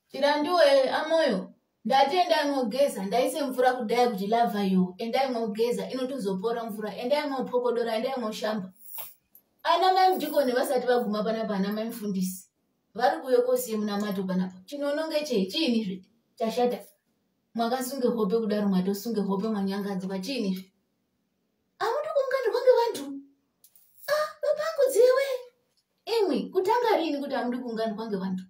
Chirandiwe amoyo ndati endai mogeza ndaise mvura kudai kuti lava yo endai mogeza inotozopora mvura endai mopokodora endai moshamba ana mai mudhikoni vasati vaguma panapa ana mai mufundisi vari kuuye kosiye munamato panapa chinononge chei chiini zve chashata mwakasunge hope kudaro mwatosunge hope mwanyangadzwa chiini zve amuti kumukandirwa ngevantu a ah, bapangu dziwe imwi kutanga riini kuti amudi kuunganirwa ngevantu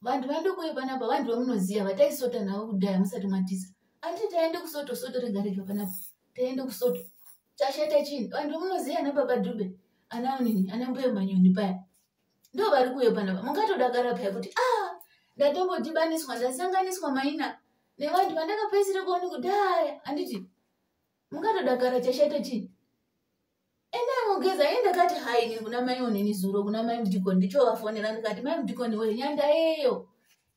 vanhu vandokoyo panapa vanhu vamunoziva vataisota navo kudhaya musati matiza andi taende kusoto soto rega rega panapa taende kusoto chashata chini vanhu vamunoziva ana baba dhube ana unini ana mbuya manyoni paya ndo vari kuyo panapa mungatodakara paya kuti a ah, ndatombodhibaniswa ndasanganiswa maina nevanhu vandakapaisire kuoni kudhaya anditi mungatodakara chashata chini enda anogeza ye ndakati hai ini kuna mai onini zuro kuna mai mudikoni ndichovafonera ndikati mai mudikoni wee nyandayeyo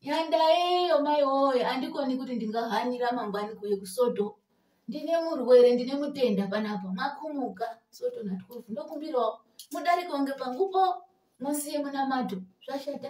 nyandayeyo mai woye andikoni kuti ndingahanira mangwani kuye kusoto ndine murwere ndine mutenda panapa makumuka soto na 12 ndokumbirawo mudariko nge pangupo musiye munamato zvashata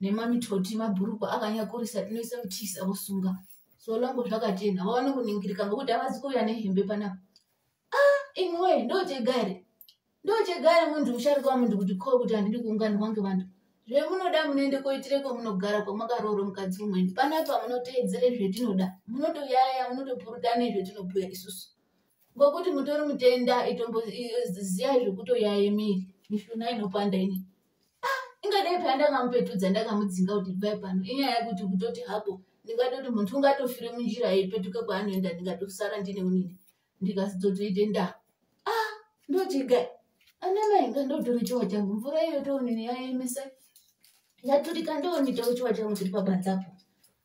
nemamitoti mabhurukwa akanyakurisa tinoisa mutisi akusunga so longo zvakatena vaone kuningirika ngokuti havazi kuuya nehembe panapa ah imwe ndochegare ndochegare munhu musharuka wamunhu kuti ko kuti handidi kuunganirwa ngevanhu zvemunoda munoende koitireko munogara kwamakarooro mukadzi umweni panapa munoteedzere zvetinoda munotoyaya munotopurutane zvetinobhuya isusu ngokuti mutori mutenda itombo ziyai zvekutoyaya miri mishuna inopanda inei ah, ingadai paya ndakamupetudza ndakamudzinga kuti bvai pano inyaya yekuti kutoti hako ndingatoti muntu ungatofire munjira yeipetuka kwaanoenda ndingatosara ndine unini ndikasizotoite nda ah, ndotiga anamainga ndotore chiwa changu mvura iyo toonini yaemesa yaturika ndoonitawo chiwa changu chiri pabanzapo